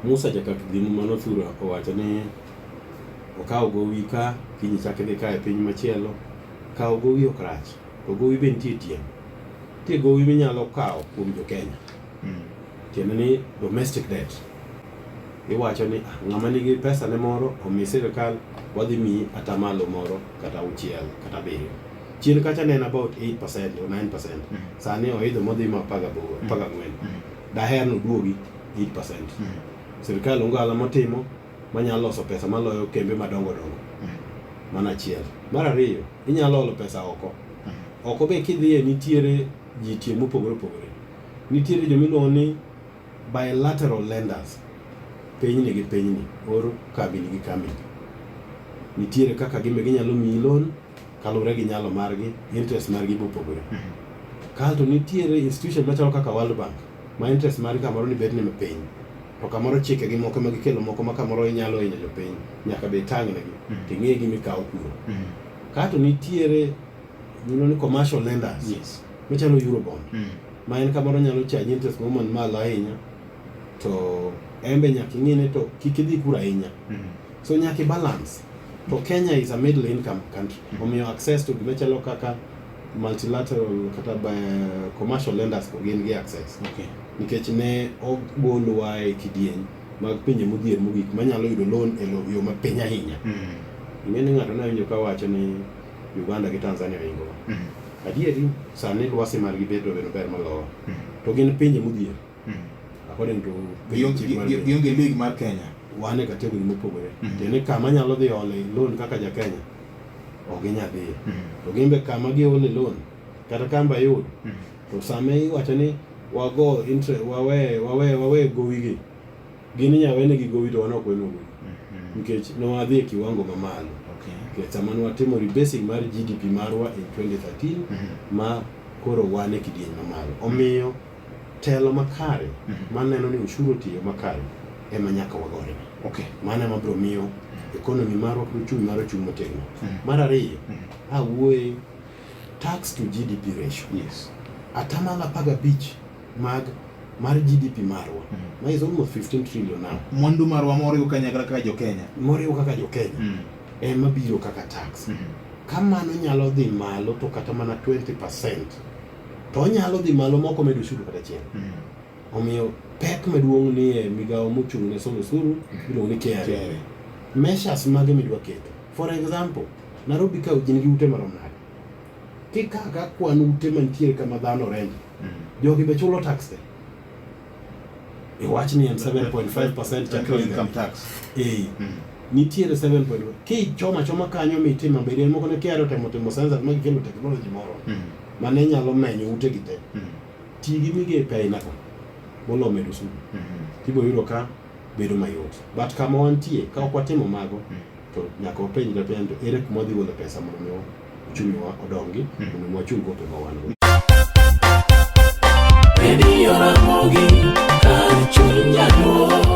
Musa jakak dhim mano thura owacho ni okawo gowi ka kiny chak idhi ka e piny machielo kawo gowi ok rach to gowi be nitie tieng' nitie gowi minyalo kawo kuom jo Kenya hmm. tiende ni domestic debt iwacho ni ah, ng'ama nigi pesa ne moro omi sirikal wadhi miyi atamalo moro kata auchiel kata abiriyo chien kacha ne en about 8% or 9% mm. sani oidho modhi ma 14 mm. mm. daher ni oduogi 8% mm. sirkal onge ohala motimo manyalo loso pesa maloyo kembe madongo dongo mm. mana achiel mar ariyo inyalo olo pesa oko mm. oko be kidhiye nitiere ji tie mopogore opogore nitiere jomiluongo ni bilateral lenders pinyni gi pinyni or kambini gi kambini nitiere kaka gimbe ginyalo miyi loan Kaluwore gi nyalo margi, interest margi be opogore. Kae to nitiere institution machalo kaka World Bank ma interest margi kamoro ni bet ni piny. To kamoro chike gi moko ma gikelo moko ma kamoro inyalo hinyo jopiny, nyaka be itang' negi, to ing'e gima ikawo kuro. Kae to nitiere gino ni commercial lenders Yes. machalo Eurobond Mm. ma en kamoro nyalo chaji interest moro man malo ahinya to en be nyaka ing'ine to kik idhi kuro ahinya Mm. So nyaki balance. To Kenya is a middle income country. Mm -hmm. Omiyo access to gima chalo kaka multilateral kata by commercial lenders ko gin gi access. Okay. Nikech ne ogolwa e kidieny mag pinje modhier mogik manyalo yudo loan e yo ma piny ahinya. Mm -hmm. Ing'e ni ng'ato ne winjo ka wacho ni Uganda gi Tanzania ringo. Mm -hmm. Adieri sani lwasi margi bedo bedo ber malowa. Mm -hmm. To gin pinje modhier. Hmm. According to gionge league mar Kenya. Wan e category mopogore. Hmm. Tiende kama nyalo dhi ole loan kaka ja Kenya ok ginyal dhiye. To gin be kama giole loan kata kamba yud to sama iwacho ni wago interest wawe wawe wawe gowi gi gin inyalo wene gi gowi to wan ok wene gowi nikech ne wadhi e kiwango mamalo nikech sama ne watimo rebasing mar GDP marwa e 2013 mhm. ma koro wan e kidieny mamalo omiyo Telo makare mhm. ma neno ni ushuru otiyo makare ema nyaka wagore. Okay. Mano ema biro miyo ekonomi marwa kod uchumi marwa chung' motegno. Mhm. Mar ariyo, mhm. awuoye tax to GDP ratio. Yes. Atamalo apar gabich mag mar GDP marwa mm. ma is almost 15 trillion now. Mwandu marwa moriwo kanyakla kaka jo Kenya. Moriwo kaka jo Kenya. Mm. Ema biro kaka tax. Mm. Ka mano nyalo dhi malo to kata mana 20% to onyalo dhi malo moko medo osuru kata chieng'. Mm. Omiyo pek maduong' ni e migawo mochung' ne solo osuru mm. iluongo ni KRA. Measures mage midwa keto? For example, Nairobi ka gin gi ute marom nade? Kikawo ka kwan ute mantiere kama dhano renje, mm. jogi be chulo tax te? Iwach ni en 7.5% chakre income tax. Eh. Nitiere 7.5. Kichoma choma kanyo mitima bedi en moko ne KRA otemo timo census ma gikelo technology moro. ma ne nyalo menyo utegi te, mm. ti gi migepe ainago molo medo sudu mm-hmm. tibo yudo ka bedo mayot but kama wantie ka ok watimo mago mm. to nyaka wapenjre penjo ere kuma wadhi gole pesa mondo mi uchungiwa odongi mm. mondo mi wachung gope ma wan go Radio Ramogi, Kar Chunya Duo.